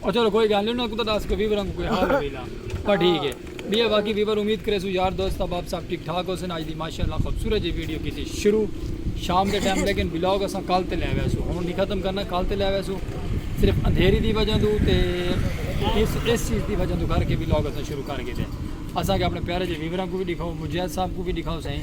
او چلو کوئی گل نہیں انہاں کوں تاں دس کے ویوراں کوں کوئی حال ہوے لا پر ٹھیک ہے بیا باقی ویور امید کرے سو یار دوست احباب سب ٹھیک ٹھاک ہوسن اج دی ماشاءاللہ خوبصورت جی ویڈیو کیتی شروع شام دے ٹائم لیکن بلاگ اساں کل تے لے ویسو ہن نہیں ختم کرنا کل تے لے ویسو صرف اندھیری دی وجہ تو تے اس اس چیز دی وجہ تو کر کے بلاگ اساں شروع کر کے دے اساں کے اپنے پیارے جی ویوراں کو بھی دکھاؤ مجید صاحب کو بھی دکھاؤ سائیں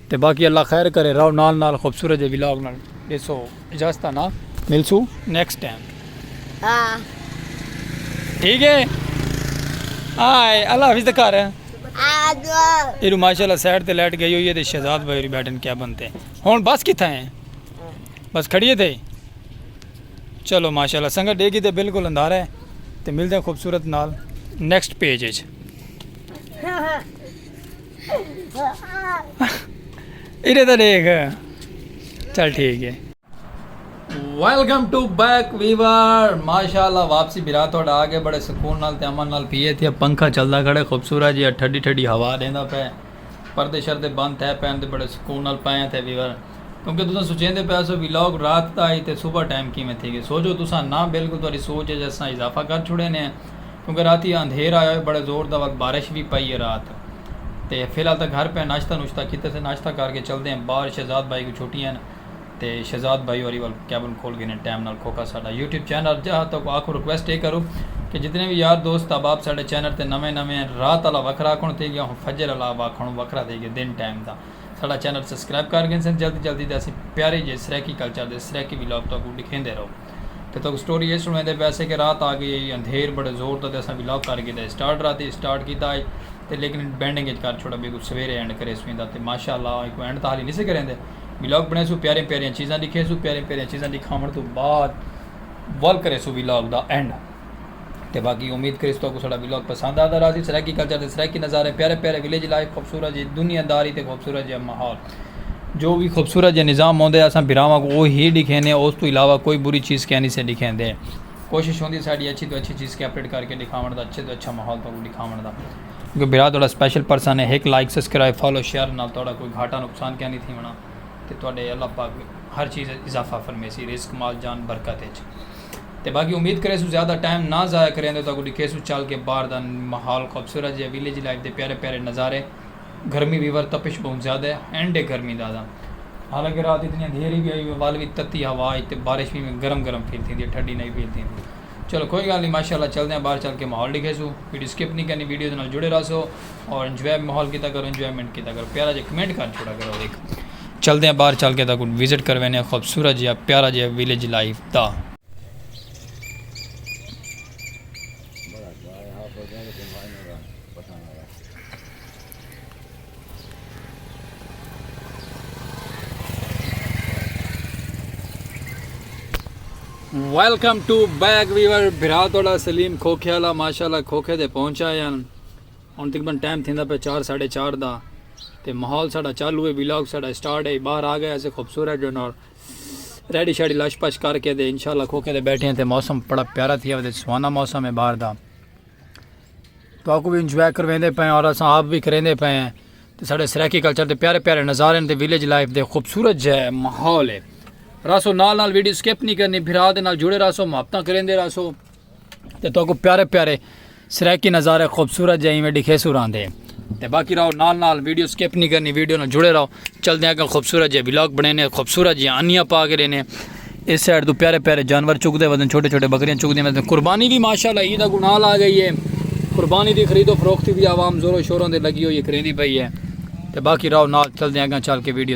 تے باقی اللہ خیر کرے رہو نال نال خوبصورت جے ولاگ نال ڈیسو اجازت انا ملسو نیکسٹ ٹائم ٹھیک ہے آئے اللہ حافظ تے کر ایرو ماشاءاللہ سیٹ تے لیٹ گئی ہوئی ہے تے شہزاد بھائی بیٹھن کیا بنتے ہن بس کتھا ہیں بس کھڑیے تھے چلو ماشاءاللہ سنگت ڈے کی تے بالکل اندھارا ہے تے ملتے ہیں خوبصورت نال نیکسٹ پیج ہے ادھر تو دیکھ چل ٹھیک ہے ویلکم ٹو بیک ویور ماشاء اللہ واپسی برا تھوڑا آ گئے بڑے سکون نال تے امن نال پیے تھے پنکھا چلدا کھڑے خوبصورت جی ٹھڈی ٹھڈی ہوا دیندا پے پردے شردے بند تھے پین تے بڑے سکون نال پائے تھے ویور کیونکہ تساں سوچیندے پے سو ویلاگ رات دا ہی تے صبح ٹائم کیویں تھی گئے سوچو تساں نہ بالکل تہاڈی سوچ اچ اساں اضافہ کر چھڑے نے کیونکہ راتی اندھیر آیا ہوئے بڑے زور دا وقت بارش وی پئی ہے رات تے فی الحال تاں گھر پئے ہیں ناشتہ نوشتہ کیتے سے ناشتہ کر کے چلدے ہیں باہر شہزاد بھائی کوں چھٹیاں ہیں تے شہزاد بھائی ہوری ول کیبن کھول گھنے ٹائم نال کھوکا ساڈا یوٹیوب چینل ارجا ہا تاکوں آکھوں ریکویسٹ اے کروں کہ جتنے وی یار دوست احباب ساڈے چینل تے نویں نویں ہیں رات آلا وکھرا آکھوں تھئی گیا ہوں فجر آلا واکھوں وکھرا تھئی گیا دن ٹائم دا ساڈا چینل سبسکرائب کر گھنسن جلدی جلدی تے اسیں پیارے جے سرائیکی کلچر دے سرائیکی ولاگ تاکوں ڈکھیندے رہو۔ تے تہاکوں سٹوری اے سنڑیندے پئے اسے کہ رات آگئی ہئی اندھیر بڑے زور دا تے اساں وی لاک کر گھیدا ہئی سٹارٹ راتی اچ سٹارٹ کیتا ہئی تے لیکن اٹ بینڈنگ اچ کر چھوڑا بیکوں سویرے اینڈ کریسوں ایندا تے ماشاء اللہ آں ایکوں اینڈ تاں حالی نسے کریندے وی لاک بنڑیسوں پیاریاں پیاریاں چیزاں ڈکھیسوں پیاریاں پیاریاں چیزاں ڈکھاونڑ توں بعد ول کریسوں وی لاک دا اینڈ۔ تے باقی امید کریس تہاکوں ساڈا ولاگ پسند آدا راہسی سرائیکی کلچر تے سرائیکی نظارے پیارے پیارے ولیج لائف خوبصورت جئی دنیا داری تے خوبصورت جیا ماحول جو وی خوبصورت جیا نظام ہوندے اساں بھراواں کوں او ہی ڈکھیندے ہاں اس توں علاوہ کوئی بری چیز کینی سے ڈکھیندے کوشش ہوندی ساڈی اچھی توں اچھی چیز کے اپڈیٹ کر کے ڈکھاونڑ دا اچھے توں اچھا ماحول تہاکوں ڈکھاونڑ دا کیونکہ بھرا تہاڈا سپیشل پرسن ہے ہک لائک سبسکرائب فالو شیئر نال تہاڈا کوئی گھاٹا نقصان کینی تھیونڑا تے تہاڈے اللہ پاک ہر چیز اچ اضافہ فرمیسی رزق مال جان برکت اچ۔ تے باقی امید کریسوں زیادہ ٹائم نہ ضائع کریندے تہاکوں ڈکھیسوں چل کے باہر دا ماحول خوبصورت جیہا ویلیج لائف دے پیارے پیارے نظارے گرمی ویور تپش بہوں زیادہ ہے اینڈ ہے گرمی دا تاں حالانکہ رات اتنی اندھیری وی آئی ہوئی ول وی تتی ہوا اچ تے بارش وی میں گرم گرم فیل تھیندی ہے ٹھڈی نئیں فیل تھیندی چلو کوئی گالھ نئیں ماشاءاللہ چلدے آں باہر چل کے ماحول ڈکھیسوں ویڈیو سکپ نئیں کرنی ویڈیو دے نال جڑے راہسو اور انجوائے ماحول کیتا کرو انجوائمنٹ کیتا کرو پیارا جیہا کمنٹ کر چھوڑا کرو ہک چلدے آں باہر چل کے تاں کوں وزٹ کروینے آں خوبصورت جیہا پیارا جیہا ویلیج لائف دا۔ ویلکم ٹو بیک ویور بھرا تہاڈا سلیم کھوکھے والا ماشاءاللہ کھوکھے تے پہنچ آئے ہن۔ ہن تقریبا ٹائم تھیندا پئے چار ساڑھے چار دا تے ماحول ساڑا چالو ہے ویلاگ ساڑا اسٹارٹ ہے باہر آ گئے اسے خوبصورت جو نال ریڈی شیڈی لش پش کر کے دے انشاءاللہ کھوکے دے بیٹھے ہیں تے موسم بڑا پیارا تھیا ودے سوانا موسم ہے باہر دا تو آپ کو بھی انجوائے کرویندے پئے اور اساں آپ بھی کریندے پئے ہیں تے ساڑے سرائیکی کلچر دے پیارے پیارے نظارے تے ویلیج لائف دے خوبصورت جے ماحول ہے راسو نال نال ویڈیو سکپ نہیں کرنی بھرا دے نال جڑے راسو محبتاں کریندے راسو تے تو کو پیارے پیارے سرائیکی نظارے خوبصورت جائیں میں ڈکھے سور آن دے تے باقی رہو نال نال ویڈیو سکیپ نہیں کرنی ویڈیو نہ جڑے رہو چل دیں اگر خوبصورت جائیں ویلاگ بنے نے خوبصورت جائیں انیا پا کے رہنے اس سائڈ تو پیارے پیارے جانور چک دے وزن چھوٹے چھوٹے بکریاں چک دے وزن قربانی بھی ماشاءاللہ عید اگو نال آ گئی ہے قربانی دی خرید و فروخت بھی عوام زور و شوروں دے لگی ہوئی کریں دی پئی ہے تے باقی رہو نال چل دیں اگر چل کے ویڈیو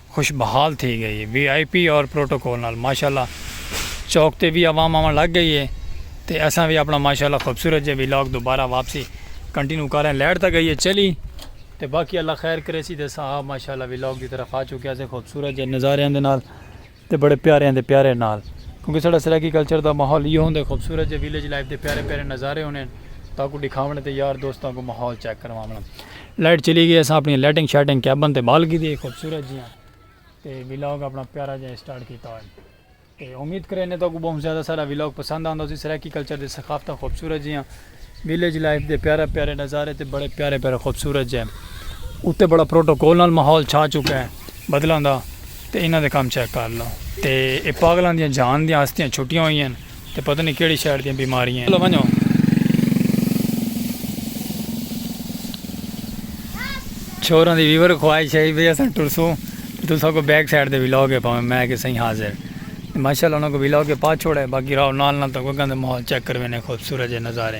خوش بحال تھی گئی ہے وی آئی پی اور پروٹوکول نال ماشاءاللہ چوک تے وی عوام آون لگ گئی ہے تے اساں وی اپنا ماشاءاللہ خوبصورت جے ولاگ دوبارہ واپسی کنٹینیو کر رہے ہیں لائٹ تاں گئی ہے چلی تے باقی اللہ خیر کرے سی تے اساں آپ ماشاءاللہ ولاگ دی طرف آ چکے ہیں خوبصورت جے نظاریاں دے نال تے بڑے پیاریاں دے پیارے نال کیونکہ ساڈا سرائیکی کلچر دا ماحول ایہو ہوندے خوبصورت جے ویلیج لائف دے پیارے پیارے نظارے ہونے تاکو دکھاونے تے یار دوستاں کو ماحول چیک کرواونا لائٹ چلی گئی اساں اپنی لائٹنگ شائٹنگ کیبن تے بال گھدی خوبصورت جیاں تے ویلاگ اپنا پیارا جیاں سٹارٹ کیتا ہوئے تے امید کرے نے تو کو بہت زیادہ سارا ویلاگ پسند آندا سی سرائیکی کلچر دے ثقافتہ خوبصورت جیاں ویلیج لائف دے پیارا پیارے نظارے تے بڑے پیارے پیارے خوبصورت جے اتے بڑا پروٹوکول نال ماحول چھا چکا ہے بدلاں دا تے انہاں دے کام چیک کر لو تے اے پاگلاں دیاں جان دیاں ہستیاں چھٹیاں ہوئی ہیں تے پتہ نی کیڑھی شیڈ دیاں بیماریاں ہن۔ چلو ونجو۔ چھوراں دی ویور خواہش ہئی بھئی اساں ٹرسوں تے تساں کوں بیک سائیڈ دے ولاگ اے پاویں۔ میں آکھیا سائیں حاضر۔ ماشاءاللہ انہاں کوں ولاگ اے پا چھوڑے باقی راہو نال نال تاں کوئی گھندا ماحول چیک کرویندے خوبصورت جے نظارے۔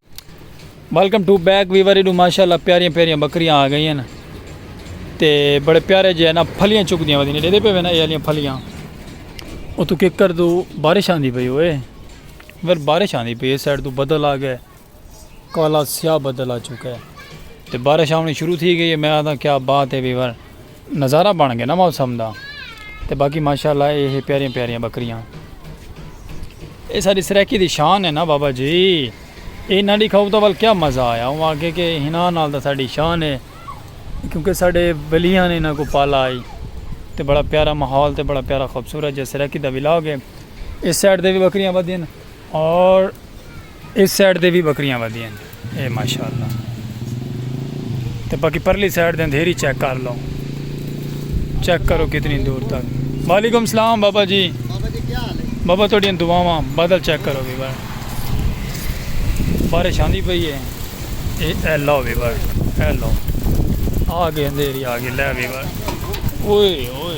ویلکم ٹو بیک ویور ایڈو ماشاءاللہ پیاریاں پیاریاں بکریاں آ گئی ہیں تے بڑے پیارے جے نا پھلیاں چک دیاں ودی نے ڈیدے پہ وینا اے علیاں پھلیاں او تو ککر دو بارش آن دی پہ ہوئے ور بارش آن دی پہ سیڈ دو بدل آ گئے کالا سیاہ بدل آ چکا ہے تے بارش آن شروع تھی گئی ہے میں آدھا کیا بات ہے ویور نظارہ بن گئے نا موسم دا تے باقی ماشاءاللہ اے ہے پیاریاں پیاریاں بکریاں اے ساڈی سرائیکی دی شان ہے نا بابا جی اے نہ ڈکھاؤ تاں ول کیا مزہ آیا اوں آکھے کہ ہناں نال تاں ساڈی شان ہے کیونکہ ساڈے ولیاں نے انہاں کو پالا آئی تے بڑا پیارا ماحول تے بڑا پیارا خوبصورت جے سرائیکی دا ولاگ ہے اس سائیڈ دے وی بکریاں ودھین اور اس سائیڈ دے وی بکریاں ودی ہیں اے ماشاءاللہ تے باقی پرلی سائیڈ دے اندھیری چیک کر لو چیک کرو کتنی دور تک وعلیکم السلام بابا جی بابا جی کیا حال ہے بابا تھوڑی دعاواں بادل چیک کرو بھی بار بارش آندی پئی ہے اے اے لو بھی بار اے لو آ گئے اندھیری آ گئے لے بھی بار اوئے اوئے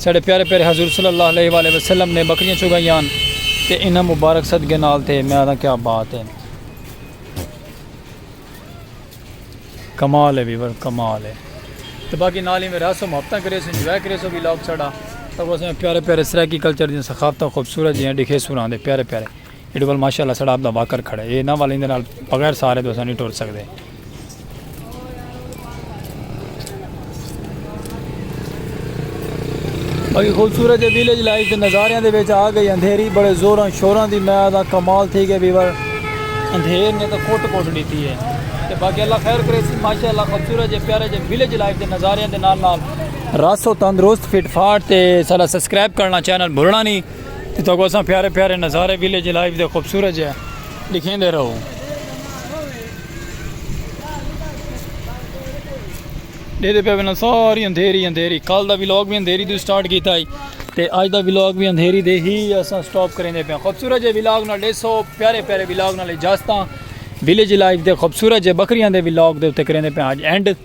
ساڈے پیارے پیارے حضور صلی اللہ علیہ والہ وسلم نے بکریاں چگائیان تے انہاں مبارک صدقے نال تے میں آدھاں کیا بات ہے کمال ہے ویور کمال ہے تے باقی نال ہی میں راسو محبتاں کرے سو انجوائے کرے سو ویلاگ ساڈا تاکہ اساں پیارے پیارے سرائیکی کلچر دی ثقافتاں خوبصورت جیاں دکھے سوراں دے پیارے پیارے ایڈے ول ماشاء اللہ سڑا آپدا واکر کھڑا ہے اے نہ ول ایندے نال بغیر سہارے توں اساں نی ٹر سکدے۔ باقی خوبصورت جے ویلیج لائف دے نظاریاں دے وچ آ گئی اندھیری بڑے زوراں شوراں دی میں آدھاں کمال تھی گئے ویور اندھیر نے تاں کٹ کٹ ڈیتی ہے تے باقی اللہ خیر کرے سی ماشاء اللہ خوبصورت جے پیارے جے ویلیج لائف دے نظاریاں دے نال نال راسو تندرست فٹ فاٹ تے سارا سبسکرائب کرنا چینل بھولنا نی۔ جتھاں کوں اساں پیارے پیارے نظارے ویلیج لائف دے خوبصورت جے ڈکھیندے رہوں۔ ڈیدھے پے وینا ساری اندھیری اندھیری کل دا ویلاگ بھی اندھیری دے سٹارٹ کیتا ہی تے اج دا ویلاگ بھی اندھیری دے ہی اساں سٹاپ کریندے پے خوبصورت جے ویلاگ نال ڈیسو پیارے پیارے ویلاگ نال اجازتاں ویلیج لائف دے خوبصورت جے بکریاں دے ویلاگ دے اتے کریندے پے اج اینڈ۔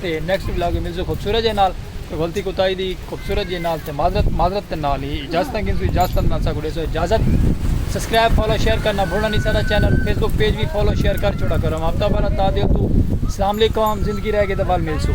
تے نیکسٹ ولاگ وچ ملسوں خوبصورت جے نال کوئی غلطی کوتاہی دی خوبصورت جے نال تے معذرت معذرت دے نال ہی اجازتاں گھنسوں اجازتاں دے نال ساکوں ڈیسو اجازت سبسکرائب فالو شیئر کرنا بھولنا نی ساڈا چینل فیس بک پیج وی فالو شیئر کر چھوڑا کرو ہفتہ بھر تادیو توں اسلام علیکم زندگی رہ گئی تے ول ملسوں۔